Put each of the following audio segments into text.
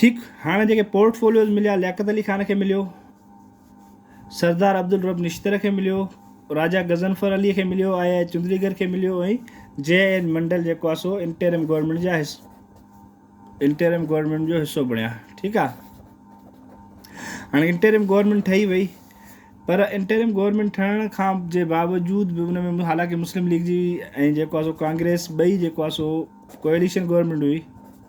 ٺيڪ هاڻ جيڪي پورٽ فوليوز مليا لياقت علي خان کي مليو سردار عبدالرب نشتر کي مليو راجا غضنفر علي کي مليو آء آء چندريگر کي مليو ۽ جي اين منڊل جيڪو آهي سو انٽيرم گورنمينٽ جا حص انٽيرم گورنمينٽ جو حصو بڻيا ٺيڪ آهي هاڻي انٽيرم گورنمينٽ ٺهي وئي پر انٽيرم گورنمينٽ ٺهڻ کان جي باوجود به ان ۾ حالانڪه مسلم ليگ جي ۽ جيڪو آهي سو ڪانگريس ٻئي جيڪو آهي سو ڪوئليشن گورنمينٽ هئي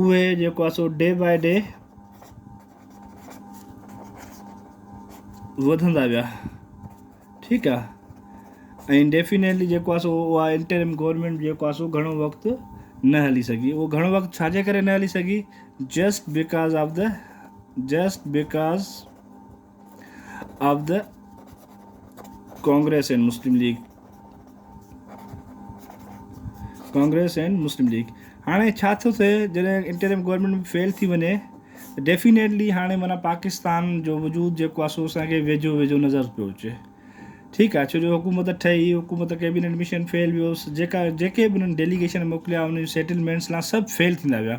اهي جيڪو آهي سو ڊي باء ڊي وڌندا ويا ٺيڪ آهي ۽ ڊيفينيٽلي جيڪو آهي سو اها انٽرم گورنمنٽ جيڪو آهي سو گهڻو وقت نه هلي سگهي اهو گهڻو وقت ڇا جي ڪري نه هلي سگهي just because of the just because of the Congress and Muslim League Congress and Muslim League هاڻي ڇا ٿو ٿئي جڏهن انٽرم گورنمنٽ به فيل ٿي وڃي ڊيفينيٽلي هاڻي مانا پاڪستان جو وجود جيڪو آسو اسان کي ويجهو ويجهو نظر پيو اچي ٺيڪ آهي ڇو جو حڪومت ٺهي حڪومت ڪيبينيٽ مشن فيل ويو جيڪا جيڪي به انهن ڊيليگيشن موڪليا انهن سيٽلمينٽس لا سڀ فيل ٿيندا ويا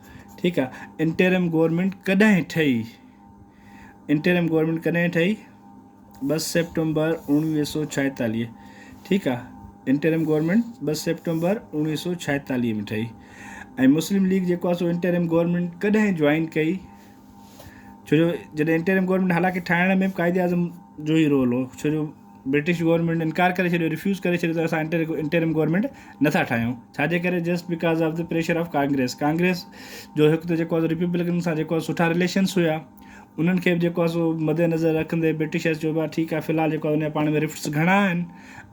ٺيڪ آ انٽرم گورنمينٽ ڪڏهن ٺهي. انٽرم گورنمينٽ ڪڏهن ٺهي ٻه سيپٽمبر اوڻويهه سو ڇائيتاليهه ٺيڪ آ انٽرم گورنمينٽ ٻه سيپٽمبر اوڻويهه سو ڇائيتاليهه ۾ ٺهي ۽ مسلم ليگ جيڪو آ سو انٽرم گورنمينٽ ڪڏهن جوائن ڪئي ڇو جو جڏهن انٽرم گورنمينٽ حالانڪه ٺاهڻ ۾ قائد اعظم جو ئي رول هو ڇو جو برٽش گورنمينٽ انڪار ڪري ڇڏيو، ريفيوز ڪري ڇڏيو ته اسان انٽرم گورنمينٽ نه ٿا ٺاهيون، ڇا جي ڪري just because of the pressure of Congress, Congress جو هڪ ته جيڪو ريپبلڪن سان جيڪو سٺا رليشنس هيا انهن کي به جيڪو آهي سو مد نظر رکندي برٽشرس چيو ڀاء ٺيڪ آهي في الحال جيڪو آهي ان جا پاڻ ۾ رفٽس گهڻا آهن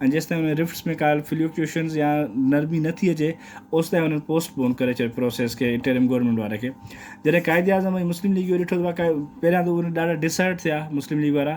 ۽ جيستائين انهن رفٽس ۾ ڪا فليوڪيوشنس يا نرمي نه ٿي اچي اوستائين انهن پوسٽ پون ڪري ڇڏيو پروسيس کي انٽرم گورنمينٽ واري کي جڏهن قائد اعظم ۽ مسلم ليگ اهو ڏٺو ته پهريان ته اهو ڏاڍا ڊسهرٽ ٿيا مسلم ليگ وارا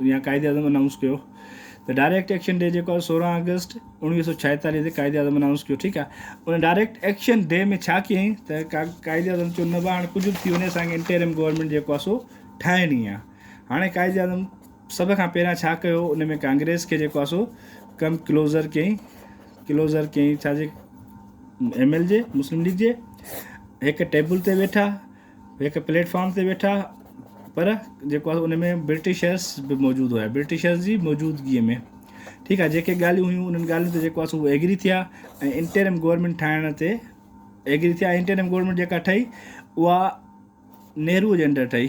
جيئن قائد اعظم انائونس ڪيو ته ڊائريڪٽ ايڪشن ڊي جيڪو آهي سورهن آگسٽ اوڻويهه سو ڇاهيتاليهه تي قائد اعظم انائونس ڪيو ٺيڪ آهي ان ڊائريڪٽ ايڪشن ڊي ۾ ڇا ڪيائين ته قائد اعظم چيو نه بابا هاڻي ڪجهه به ٿي وڃي اسانکي انٽيرم گورنمينٽ جيڪو آهي سو ٺاهڻي آهي هاڻي قائد اعظم سڀ کان پهريان ڇا ڪيو ان ۾ ڪانگريس کي جيڪو آهي سو ڪم ڪلوزر ڪيائين ڪلوزر ڪيائين ڇا جي ايم ايل جي مسلم ليگ جي هڪ ٽيبل تي ويٺا هڪ پليٽ فارم تي ويٺا پر جيڪو آهي ان ۾ برٽشرس به موجود هيا برٽشرس جي موجودگي ۾ ٺيڪ آهي جيڪي ڳالهيون هيون انهن ڳالهين تي جيڪو آهي ايگري ٿيا ۽ انٽرم گورنمينٽ ٺاهڻ تي ايگري ٿيا انٽرم گورنمينٽ جيڪا ٺهي اها نهرو جي انڊر ٺهي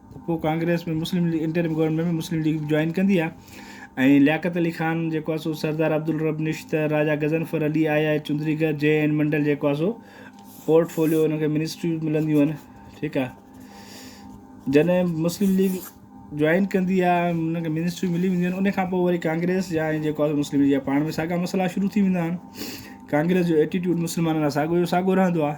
ته پوء ڪانگريس ۾ مسلم ليگ انٽرم گورنمينٽ ۾ مسلم ليگ به جوائن ڪندي ها ۽ لياقت علي خان جيڪو آهي سو سردار عبدالرب نشتر، راجا غضنفر علي، آء آء چندري گر، جي اين منڊل جيڪو آهي سو پورٽ فوليو انهن کي منسٽريون به ملنديون آهن ٺيڪ آهي جڏهن مسلم ليگ جوائن ڪندي آهي انهن کي منسٽريون ملي وينديون آهن ان کان پوء وري ڪانگريس جا ۽ جيڪو آهي مسلم ليگ جا پاڻ ۾ ساڳا مسئلا شروع ٿي ويندا آهن ڪانگريس جو ايٽيٽيوڊ مسلمانن لاء ساڳو جو ساڳو رهندو آهي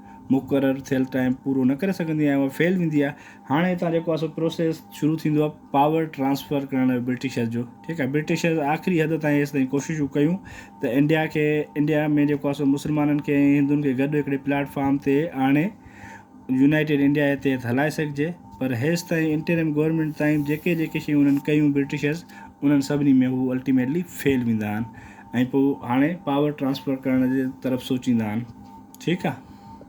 مقرر ٿيل ٽائيم پورو نه ڪري سگهندي ۽ اها فيل ويندي آهي هاڻي هتان جيڪو آهي سو پروسيس شروع ٿيندو آهي پاور ٽرانسفر ڪرڻ جو برٽشرز جو ٺيڪ آهي برٽشرز آخري حد تائين هيس تائين ڪوششون ڪيون ته انڊيا کي انڊيا ۾ جيڪو آهي سو مسلمانن کي ۽ هندن کي گڏ هڪڙي پلاٽ فارم تي آڻي يونائيٽيڊ انڊيا جي تحت هلائي سگهجي پر هيس تائين انٽرم گورنمينٽ تائين جيڪي جيڪي شيون انهن ڪيون برٽشرز انهن سڀني ۾ هو الٽيميٽلي فيل ويندا آهن ۽ پوء هاڻي پاور ٽرانسفر ڪرڻ جي طرف سوچيندا آهن ٺيڪ آهي